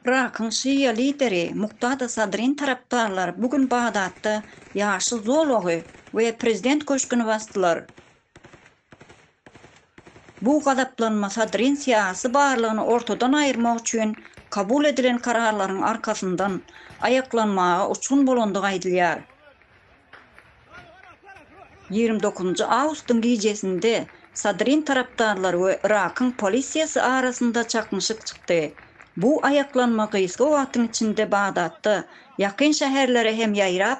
Yrakyň şia lideri Muktada Sadryň tarapdarlary bu gün Bagdatda Ýaşyl zolagy we Prezident köşgüni basdylar. Bu gazaplanma Sadryň syýasy barlygyny ortadan aýyrmak üçin kabul edilen kararlaryň arkasyndan aýaklanmaga uçgun bolandygy aýdylýar. Ýigrimi dokuzynjy awgustyň gijesinde Sadryň tarapdarlary we Yrakyň polisiýasy arasynda çaknyşyk çykdy. Bu aýaklanma gysga wagtyň içinde Bagdatda ýakyn şäherlere hem ýaýrap,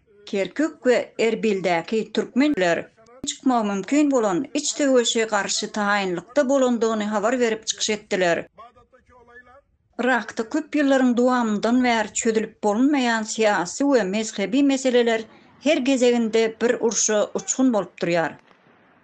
Kerkük we Erbildäki türkmenler çykmagy mümkin bolan iç söweşe garşy taýynlykda bolandygyny habar berip çykyş etdiler. Yrakda köp ýyllaryň dowamyndan bäri çözülip bolunmaýan syýasy we mezhebi meseleler her gezeginde bir urşa uçgun bolup durýar.